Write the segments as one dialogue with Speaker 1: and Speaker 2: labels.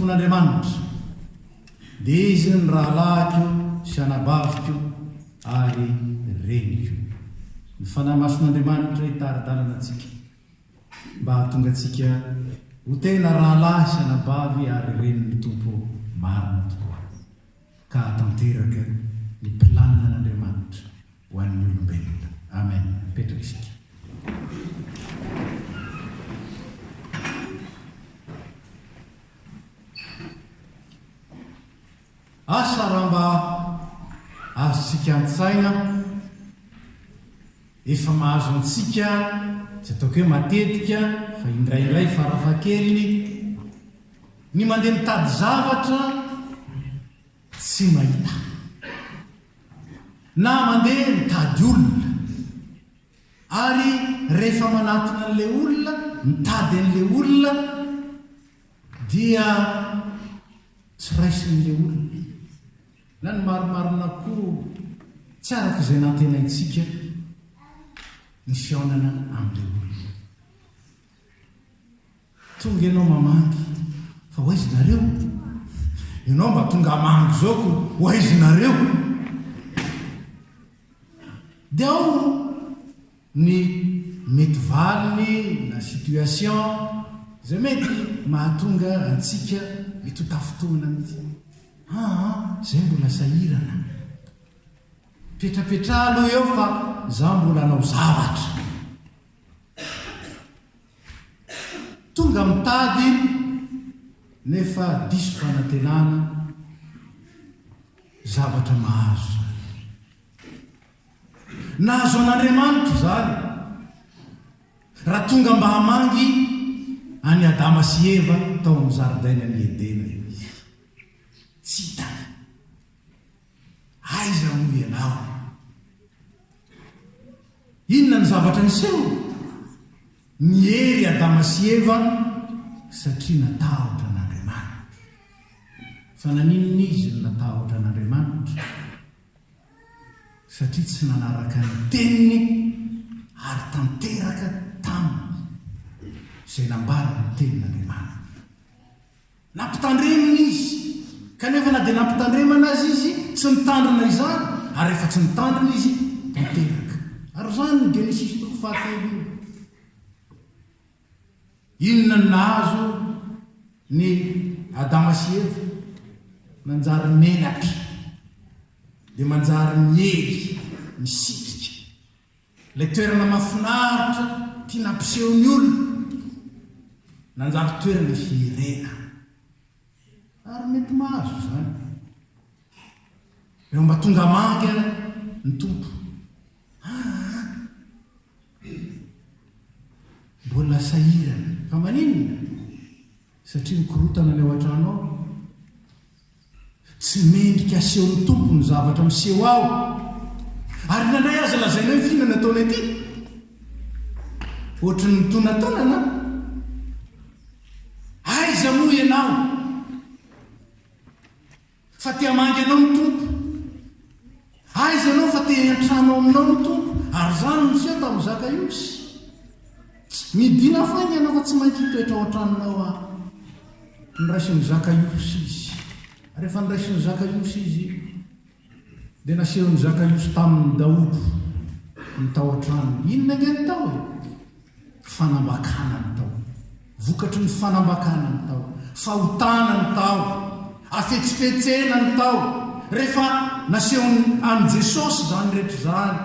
Speaker 1: Tompon'Andriamanitra, dia izy ny rahalahiko sy anabaviko ary reniko. Ny Fanahy Masin'Andriamanitra hitari-dalana antsika mba hahatonga antsika ho tena rahalahy sy anabavy ary renin'ny Tompo marina tokoa, ka hahatanteraka ny planina an'Andriamanitra ho an'ny olombelona. Amen. Mipetraka isika. Asa raha mba azontsika an-tsaina, efa mahazo antsika, tsy ataoko hoe matetika, fa indraindray farafahakeliny, ny mandeha mitady zavatra Tsy mahita. Na mandeha mitady olona. Ary rehefa manatona an'ilay olona, mitady an'ilay olona, dia tsy raisin'ilay olona. Na ny marimarina koa, tsy araka izay nantenaintsika ny fihaonana amin'ilay olona. Tonga ianao mamangy fa ho aiza nareo? Ianao mba tonga hamangy izao ko ho aiza nareo? Dia ao ny mety valiny na situation izay mety mahatonga antsika mety ho tafintohina mihitsy. Aa izay mbola sahirana. Petrapetraha aloha eo fa izaho mbola hanao zavatra. Tonga mitady nefa diso fanantenana zavatra mahazo izany. Nahazo an'Andriamanitra izany raha tonga mba hamangy an'i Adama sy Eva tao amin'ny zaridainan'i Edena izy. Tsy hitany. Aiza moa ianao? Inona ny zavatra niseho? Niery i Adama sy Eva satria natahotra an'Andriamanitra. Fa naninona izy no natahotra an'Andriamanitra? Satria tsy nanaraka ny Teniny ary tanteraka taminy izay nambaran'ny Tenin'Andriamanitra. Nampitandremina izy. Kanefa na dia nampitandremana aza izy, tsy nitandrina izany, ary rehefa tsy nitandrina izy, dia teraka. Ary izany no Genesisy toko fahatelo io. Inona no nahazo ny Adama sy Eva? Nanjary menatra, dia manjary miely, misitrika. Ilay toerana mahafinaritra tia nampiseho ny olona, nanjary toerana hirena. Ary mety mahazo izany. Eo Ambatongamanga ary ny Tompo. Aa! Mbola sahirana. Fa maninona? Satria mikorontana ny ao an-trano ao. Tsy mendrika asehon'ny Tompo ny zavatra miseho ao. Ary nandray azy lazaina hoe f'inona no ataonay ity? Ohatry ny mitonatonana an! Aiza moa ianao? Fa te hamangy anao ny Tompo. Aiza ianao fa te hiantrano aminao ny Tompo ary izany no niseho tamin'i Zakaiosy. Midina fainga ianao fa tsy maintsy hitoetra ao an-tranonao aho. Noraisin'i Zakaiosy izy. Rehefa noraisin'i Zakaiosy izy dia nasehon'i Zakaiosy tamin'ny daholo ny tao an-tranony. Inona ange ny tao e? Fanambakana ny tao. Vokatry ny fanambakana ny tao. Fahotana ny tao. Afetsifetsena ny tao. Rehefa nasehon' an'i Jesosy izany rehetra izany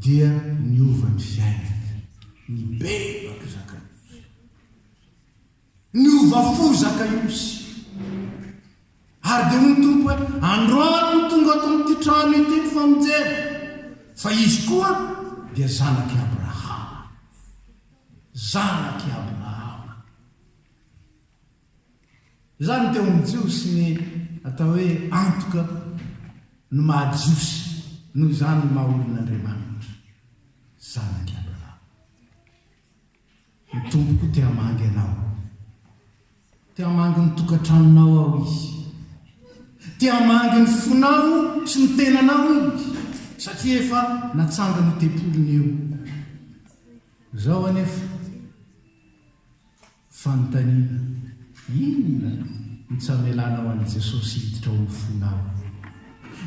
Speaker 1: dia niova ny fiainany. Nibebaka Zakaeosy. Niova fo Zakaosy, ary dia hoy ny Tompo hoe, Androany no tonga ato amin'ity trano ity ny famonjena, fa izy koa dia zanak'i Abrahama. Zanak'i Abrahama. Izany teo amin'ny Jiosy ny atao hoe antoka ny maha-Jiosy, noho izany ny maha-olon'Andriamanitra, zanak'i Abrahama. Ny Tompoko te hamangy anao. Te hamangy ny tokantranonao aho Izy. Te hamangy ny fonao sy ny tenanao Izy, satria efa natsangany io tempoliny io. Izao anefa fanontaniana, inona no tsy hamelanao an'i Jesosy hiditra ao amin'ny fonao?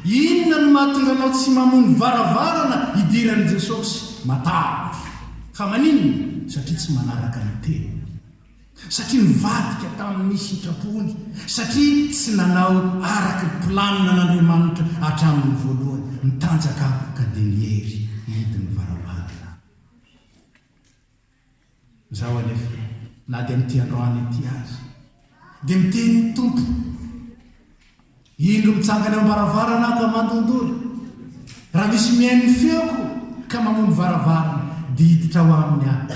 Speaker 1: Inona no mahatonga anao tsy mamono varavarana hidiran'i Jesosy? Matavy fa maninona? Satria tsy manaraka ny Teniny. Satria nivadika tamin'ny sitrapony. Satria tsy nanao araka ny planina an'Andriamanitra hatramin'ny voalohany. Mitanjaka ka dia niery hidiny varavarana. Izaho anefa, na dia amin'ity androany ity aza, dia miteny ny Tompo, indro mitsangana eo am-baravarana aho ka mandondolo, raha misy mihaino ny feoko ka mamono varavarana, dia hiditra ao aminy aho,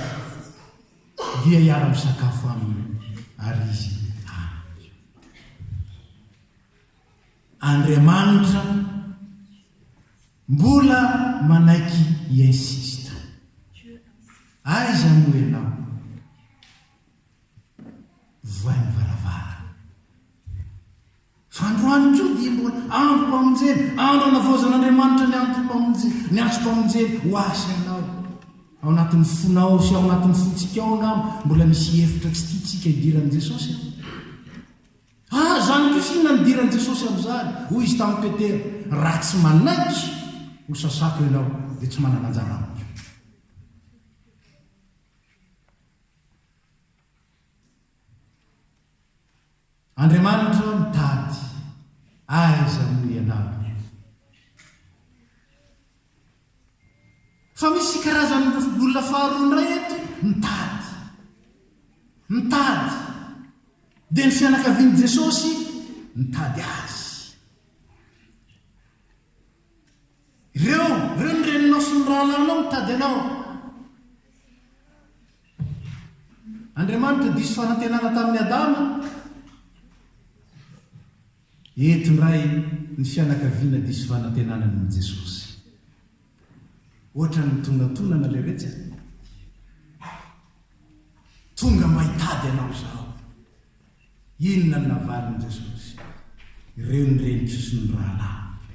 Speaker 1: dia hiara-misakafo aminy ary izy amiko. Andriamanitra. Mbola manaiky hi-insiste. Aiza moa ianao? Vohay ny varavarana. Fa androany koa dia mbola androm-pamonjena, andro anavaozan'Andriamanitra ny androm-pamonjena, ny antsom-pamonjena ho ahy sy anao. Ao anatin'ny fonao sy ao anatin'ny fontsika ao angamba mbola misy hevitra tsy tiantsika hidiran'i Jesosy e. Ary izany kosa inona no idiran'i Jesosy amin'izany? Hoy Izy tamin'i Petera, Raha tsy manaiky ho sasako ianao, dia tsy manana anjara amiko. Andriamanitra mitady aiza moa ianao? Fa misy karazan'ny lofobolina faharoa indray eto mitady. Mitady. Dia ny fianakavian'i Jesosy mitady Azy. Ireo, ireo ny reninao sy ny rahalahinao mitady Anao. Andriamanitra diso fanantenana tamin'i Adama. Eto indray ny fianakaviana diso fanantenana noho Jesosy. Ohatran'ny mitonatonana ilay retsy a! Tonga mba hitady anao izaho. Inona no navaliny Jesosy? Ireo ny reniko sy ny rahalahiko,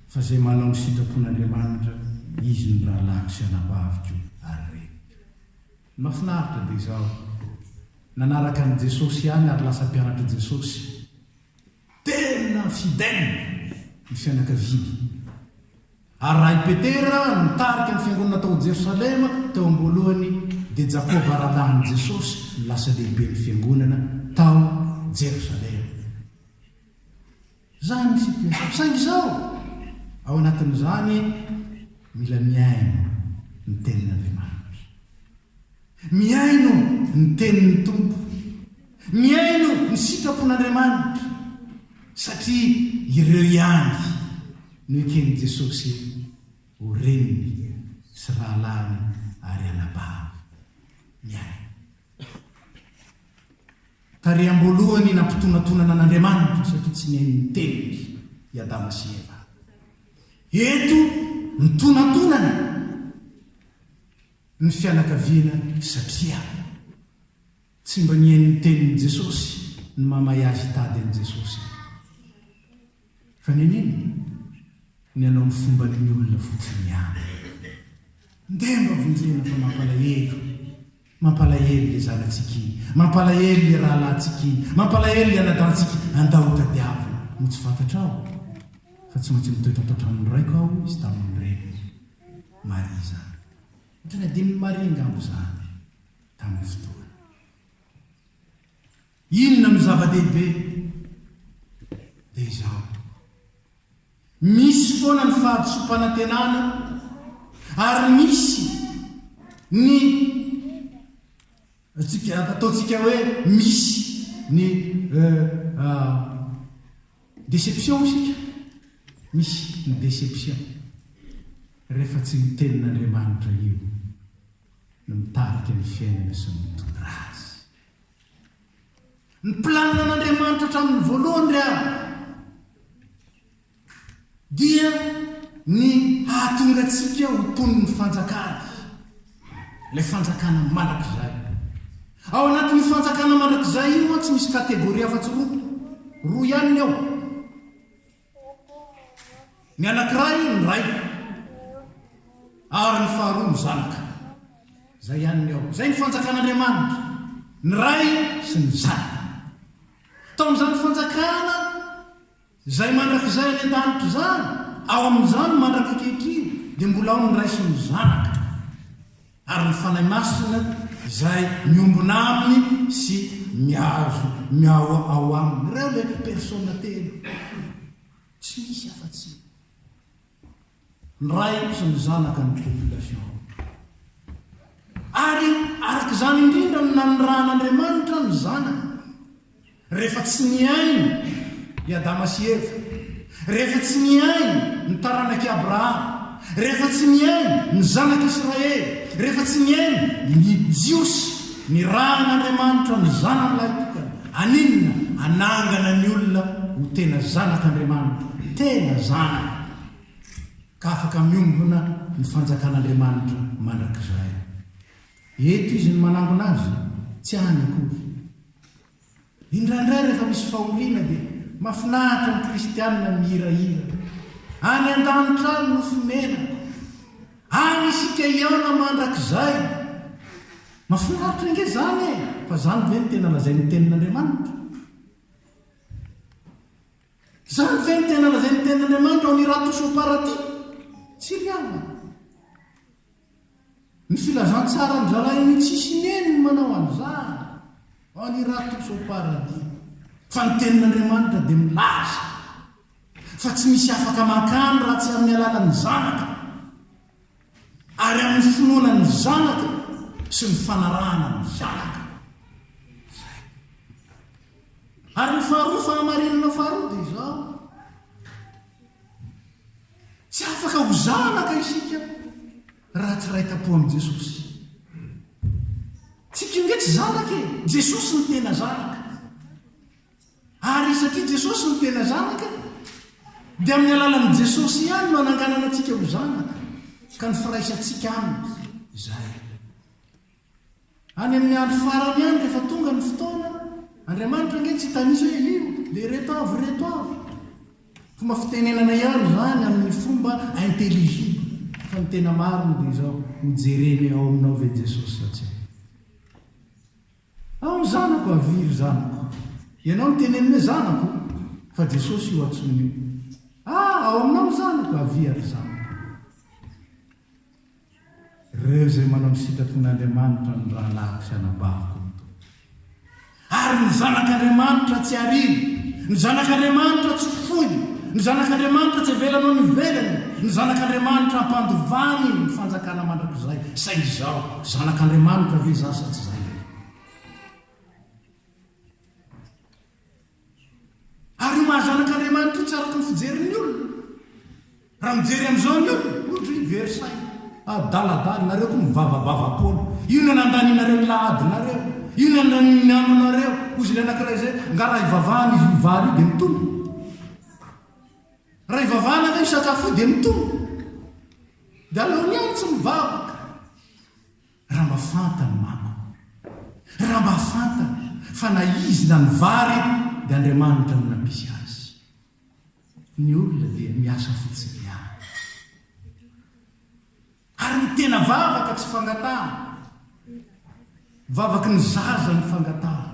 Speaker 1: fa izay manao ny sitrapon'Andriamanitra, izy no rahalahiko sy anabaviko ary reniko. Mafinaritra dia izaho nanaraka an'i Jesosy ihany ary lasa mpianatr'i Jesosy. Tena fidèle ny fianakaviany. Ary raha i Petera nitarika ny fiangonana tao Jerosalema teo am-boalohany dia Jakoba rahalahin'i Jesosy no lasa lehiben'ny fiangonana tao Jerosalema. Izany ny situation. Saingy izao, ao anatin'izany, mila mihaino ny Tenin'Andriamanitra. Mihaino ny Tenin'ny Tompo. Mihaino ny sitrapon'Andriamanitra. Satria ireo ihany no eken'i Jesosy ho reniny sy rahalahiny ary anabaviny. Mihaino. Tary am-boalohany nampitonantonana an'Andriamanitra satria tsy neno ny teniny i Adama sy Eva. Eto mitonantonana ny fianakaviana satria tsy mba nihaino ny tenin'i Jesosy ny mahamay azy hitady an'i Jesosy. Fa neneny ny hanao ny fomban'ny olona fotsiny ihany. Ndeha mba vonjena fa mampalahelo. Mampalahelo le zanatsika iny, mampalahelo le rahalahintsika iny, mampalahelo le anadantsika, andao hotadiavina. Moa tsy fantatrao fa tsy maintsy mitoetra ato an-tranon'ny raiko aho hoy izy tamin'ny reniny. Maria izany. Teny adinon'i Maria angamba izany tamin'io fotoana io. Inona no zava-dehibe? Dia izao. Misy foana ny fahadisoam-panantenana ary misy ny ataontsika hoe misy ny déception isika, misy ny déception rehefa tsy ny tenin'Andriamanitra io no mitarika ny fiainana sy mitondra azy. Ny planina an'Andriamanitra hatramin'ny voalohany ry havana dia ny hahatonga antsika ho mponin'ny fanjakany, ilay fanjakana mandrakizay. Ao anatin'io fanjakana mandrakizay io mantsy misy kategoria afa-tsy roa, roa ihany ny ao. Ny anankiray ny Ray ary ny faharoa ny Zanaka. Izay ihany ny ao. Izay ny fanjakan'Andriamanitra, ny Ray sy ny Zanaka. Tao amin'izany fanjakana izay mandrakizay any an-danitra izany, ao amin'izany mandrak'ankehitriny, dia mbola ao ny Ray sy ny Zanaka. ary ny Fanahy Masina izay miombona aminy sy miazo miao ao aminy. Ireo ilay Persona telo. Tsy misy afa-tsy ny Ray sy ny Zanaka ny population. Ary araka izany indrindra no nanirahan'Andriamanitra ny Zanany. Rehefa tsy nihaino i Adama sy Eva, rehefa tsy nihaino ny taranak'i Abrahama, rehefa tsy nihaino ny zanak'Israely, rehefa tsy nihaino ny Jiosy, nirahan'Andriamanitra ny Zanany lahitokana. Aninona? Hanangana ny olona ho tena zanak'Andriamanitra, tena zanany, ka afaka miombona ny fanjakan'Andriamanitra mandrakizay. Eto Izy no manangona azy, tsy any akory. Indraindray rehefa misy fahoriana dia mafinaritra ny kristianina mihirahira. Any an-danitra any no fonenako. Any isika hiana mandrakizay. Mafinaritra ange izany e! Fa izany ve no tena lazain'ny Tenin'Andriamanitra? Izany ve no tena lazain'ny Tenin'Andriamanitra ao amin'ny Ratosoa Paraty? Tsy ry havana. Ny filazantsaran'ny rahalahy hoe tsy hisy neny ny manao an'izany en Irak sy ao Paradis, fa ny Tenin'Andriamanitra dia milaza fa tsy misy afaka mankany raha tsy amin'ny alalan'ny Zanaka ary amin'ny finoana ny Zanaka sy ny fanarahana ny Zanaka. Izay. Ary ny faharoa, fahamarinana faharoa dia izao. Tsy afaka ho zanaka isika raha tsy iray tam-po amin'i Jesosy. Tsika indray tsy zanaka e! Jesosy no tena zanaka. Ary satria Jesosy no tena zanaka, dia amin'ny alalan'i Jesosy ihany no ananganana antsika ho zanaka, ka ny firaisantsika Aminy izay. Any amin'ny andro farany any rehefa tonga ny fotoana, Andriamanitra ange tsy hitanisa hoe io, dia ireto avy, ireto avy. Fomba fitenenana ihany izany amin'ny fomba intelligible, fa ny tena marina dia izao, ho jereny ao aminao ve Jesosy sa tsia. Ao ny zanako, avia ry zanako. Ianao no teneniny hoe zanako, fa Jesosy io antsoiny io. Ah, ao aminao ny zanako, avia ry zanako. Ireo izay manao ny sitrapon'Andriamanitra no rahalahiko sy anabaviko ny tompoko. Ary ny zanak'Andriamanitra tsy ariana, ny zanak'Andriamanitra tsy foiny, ny zanak'Andriamanitra tsy avelany ho any ivelany, ny zanak'Andriamanitra ampandovany ny fanjakana mandrakizay. Saingy izaho zanak'Andriamanitra ve izaho sa tsy izay ve? Ary io maha-zanak'Andriamanitra io tsy araka ny fijerin'ny olona. Raha mijery amin'izao ny olona, ohatra hoe Versailles, adaladala, nareo koa mivavabava foana. Io no nandanianareo ny la adinareo. Io no nandaniany ny andronareo. Hozy ilay anankiray izay, Angaha raha ivavahana izy io vary io dia mitombo? Raha ivavahana ve io sakafo io dia mitombo? Dia aleo ny ahy tsy mivavaka. Raha mba fantany manko, raha mba fantany fa na izy na ny vary dia Andriamanitra no nampisy azy. Ny olona dia miasa fotsiny ihany. Ary ny tena vavaka tsy fangatahana. Vavaky ny zaza ny fangatahana.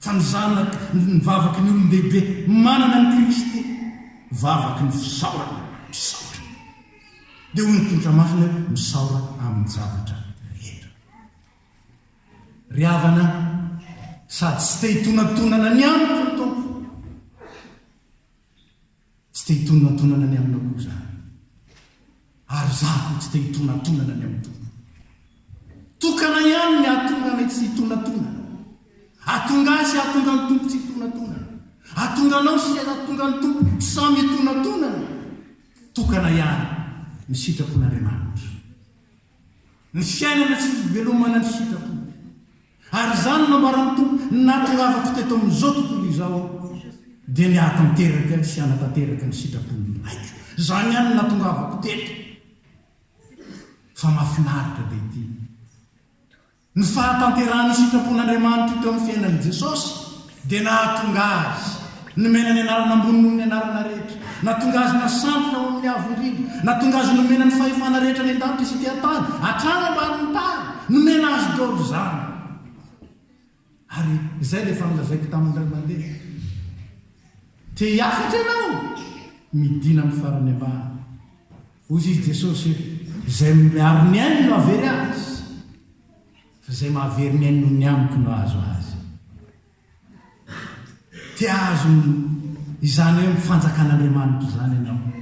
Speaker 1: Fa ny zanaka, ny vavaky ny olon-dehibe manana an'i Kristy, vavaky ny fisaorana, misaotra. Dia hoy ny tolotra masina hoe, Misaora amin'ny zavatra rehetra. Ry havana an, sady tsy te hitonantonana ny amiko ny Tompo, tsy te hitonantonana ny aminao koa izaho, ary izaho koa tsy te hitonantonana ny amin'ny Tompo. Tokana ihany ny hahatonga anay tsy hitonantonana. Hahatonga ahy sy hahatonga ny Tompo tsy hitonantonana. Hahatonga anao sy hahatonga ny Tompo samy hitonantonana. Tokana ihany ny sitrapon'Andriamanitra. Ny fiainana sy ny fivelomana ny sitrapo. Ary izany nambaran'ny Tompo natongavako teto amin'izao tontolo izao dia ny hahatanteraka sy hanatanteraka ny sitrapon'ny Raiko. Izany ihany no natongavako teto. Fa mahafinaritra be ity. Ny fahatanterahan'ny sitrapon'Andriamanitra teo amin'ny fiainan'i Jesosy dia nahatonga Azy nomena ny anarana ambony noho ny anarana rehetra, natonga Azy nasantona ho amin'ny Avo Indrindra, natonga Azy nomena ny fahefana rehetra any an-danitra sy ety an-tany, hatrany ambanin'ny tany, nomena Azy daholo izany. Ary izay dia efa nolazaiko tamin'ny iray mandeha. Te-hihafatra ianao? Midina amin'ny farany ambany. Hoy izy Jesosy, Izay miaro ny ainy no hahavery azy, fa izay mahavery ny ainy noho ny amiko no hahazo azy. Te hahazo izany hoe ny fanjakan'Andriamanitra izany ianao?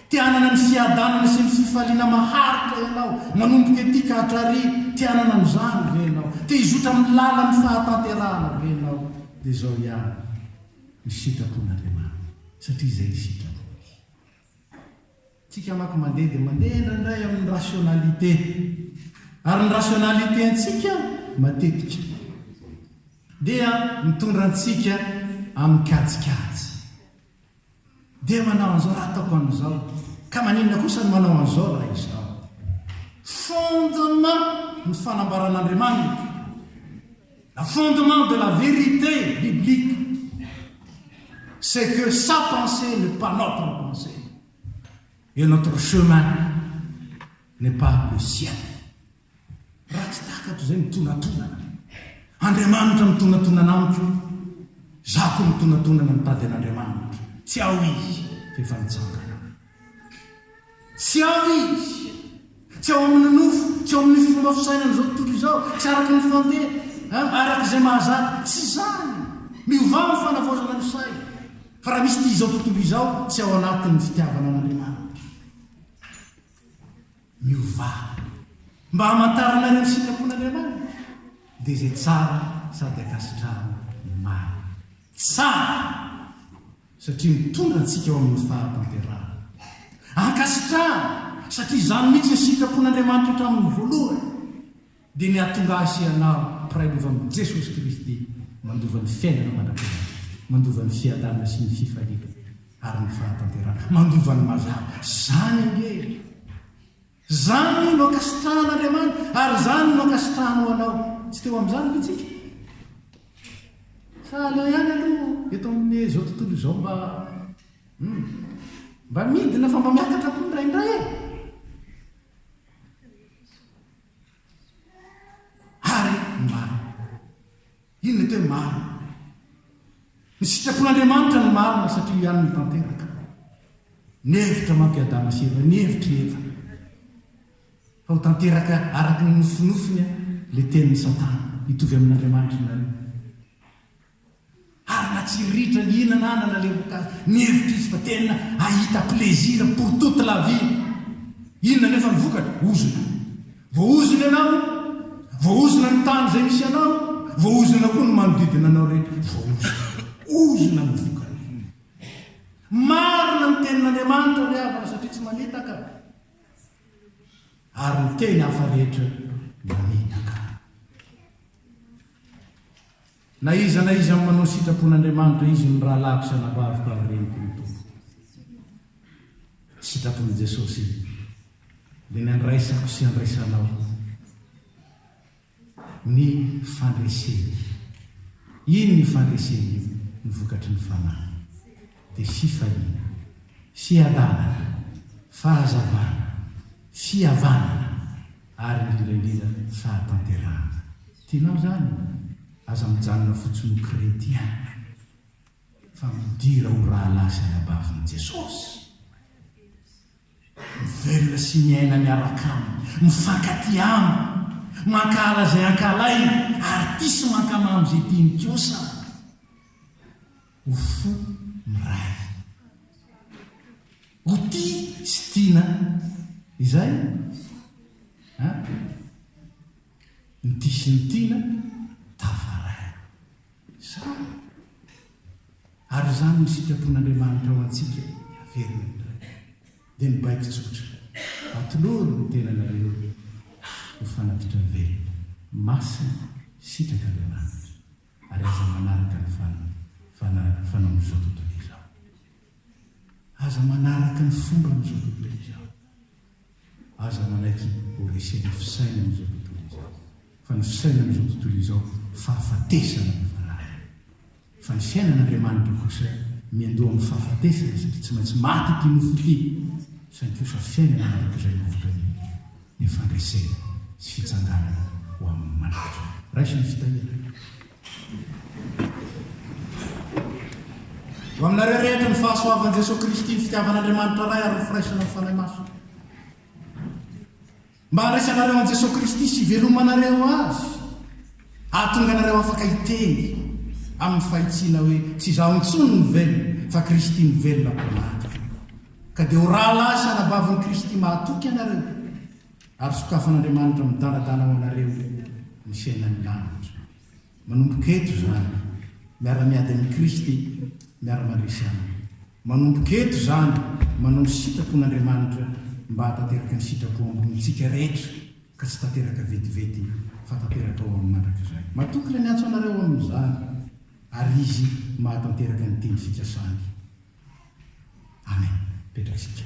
Speaker 1: Te hanana ny fiadanana sy ny fifaliana maharitra ianao, manomboka ety ka hatrarỳ? Te hanana an'izany ve ianao? Te hizotra amin'ny lalan'ny fahatanterahana ve ianao? Dia izao ihany ny sitrapon'Andriamanitra, satria izay ny sitrako. Tsika manko mandeha dia mandeha indraindray amin'ny rationalité. Ary ny rationalité antsika matetika dia mitondra antsika amin'ny kajikajy. Dia manao an'izao raha ataoko an'izao. Ka maninona kosa ny manao an'izao raha izao. Fondement ny fanambaran'Andriamanitra. Le fondement de la vérité biblique c'est que sa pensée n'est pas notre pensée et notre chemin n'est pas le sien. Raha tsy takatro izay mitonatonana, Andriamanitra mitonatonana amiko, za koa mitonatonana mitady an'Andriamanitra, tsy ao izy f'efa nitsangana. Tsy ao izy. Tsy ao amin'ny nofo, tsy ao amin'ny fomba fisainan'izao tontolo izao, tsy araka ny fandeha, araka izay mahazatra. Tsy izany. Miovà amin'ny fanavaozana ny saina. Fa raha misy tia izao tontolo izao, tsy ao anatin'ny fitiavana an'Andriamanitra. Miovà. Mba hamantaranareo ny sitrapon'Andriamanitra, dia izay tsara sady ankasitrahana ny marina. Tsara! satria mitondra antsika ho amin'ny fahatanterahana. Ankasitrahana, satria izany mihitsy ny sitrapon'Andriamanitra hatramin'ny voalohany, dia ny hahatonga ahy sy ianao mpiray lova amin'i Jesosy Kristy, mandova ny fiainana mandrakizay, mandova ny fiadanana sy ny fifaliana ary ny fahatanterahana, mandova ny mazava. Izany ange e! Izany no ankasitrahan'Andriamanitra, ary izany no ankasitrahany ho anao. Tsy teo amin'izany ve isika? Sa aleo ihany aloha eto amin'izao tontolo izao mba, hum, mba midina fa mba miakatra koa indraindray e? Ary mba. Iny mety hoe marina ilay. Ny sitrapon'Andriamanitra no marina satria ihany no tanteraka. Ny hevitra manko i Adama sy Eva, ny hevitry Eva. Fa ho tanteraka araka ny nofinofiny ilay tenin'i Satana, hitovy amin'Andriamanitra ianareo. Ary na tsy ritra nihinana ahy na nalevoka azy, ny hevitry izy fa tena hahita plaisir pour toute la vie. Inona anefa ny vokatra? Ozona. Voahozona ianao, voahozona ny tany izay misy anao, voahozona koa ny manodidina anao rehetra, voahozona. Ozona ny vokany. Marina ny tenin'Andriamanitra ry havana satria tsy manitaka, ary ny teny hafa rehetra manitaka. Na iza na iza manao sitrapon'Andriamanitra izy ny rahalahiko sy anabaviko ary reniko ny Tompo. Sitrapon'i Jesosy dia ny andraisako sy andraisanao ny fandreseny. Iny ny fandreseny iny ny vokatry ny fanahy. dia fifaliana. Fiadanana, fahazavana, fihavanana ary indrindra indrindra fahatanterahana. Tianao izany? Aza mijanona fotsiny ho kretien fa midira ho rahalahy sy anabavin'i Jesosy. Mivelona sy miaina miaraka Aminy, mifankatia Aminy, mankahala izay ankahalainy ary tia sy mankamamy izay tiany kosa. ho fo miray. Ho tia sy tiana. Izay an! Ny tia sy ny tiana tafaray. Sa? Ary izany no sitrapon'Andriamanitra ho antsika haverina indray. Dia ny baiko tsotra, atolory ny tenanareo ho fanatitra velona. Masina sitraka Andriamanitra. ary aza manaraka ny fanaon'izao tontolo izao. Aza manaraka ny fomban'izao tontolo izao. Aza manaiky ho resen'ny fisainan'izao tontolo izao. Fa ny fisainan'izao tontolo izao fahafatesana no valahany. Fa ny fiainan'Andriamanitra kosa miandoha amin'ny fahafatesana satria tsy maintsy maty ity nofo ity, saingy kosa fiainana mandrakizay no vokany. ny fandresena sy fitsangana ho amin'ny manaitra. Raiso ny fitahiana. Ho aminareo rehetra ny fahasoavan'i Jesoa Kristy, ny fitiavan'Andriamanitra Ray ary ny firaisana amin'ny Fanahy Masina. Mba handraisanareo an'i Jesoa Kristy sy hivelomanareo Azy, hahatonga anareo afaka hiteny amin'ny fahitsiana hoe tsy izaho intsony no velona fa Kristy no velona ao anaty. Ka dia ho rahalahy sy anabavin'i Kristy mahatoky ianareo, ary sokafan'Andriamanitra midanadana ho anareo ny fiainan'ny lanitra. Manomboka eto izany, miara-miady amin'i Kristy, miara-mandresy Aminy. Manomboka eto izany, manao ny sitrapon'Andriamanitra mba hahatanteraka ny sitrapo ambonintsika rehetra, ka tsy tanteraka vetivety fa tanteraka ho amin'ny mandrakizay. Matoky ilay miantso anareo amin'izany. Ary Izy mahatanteraka ny teny fikasany. Amen. Petratsika.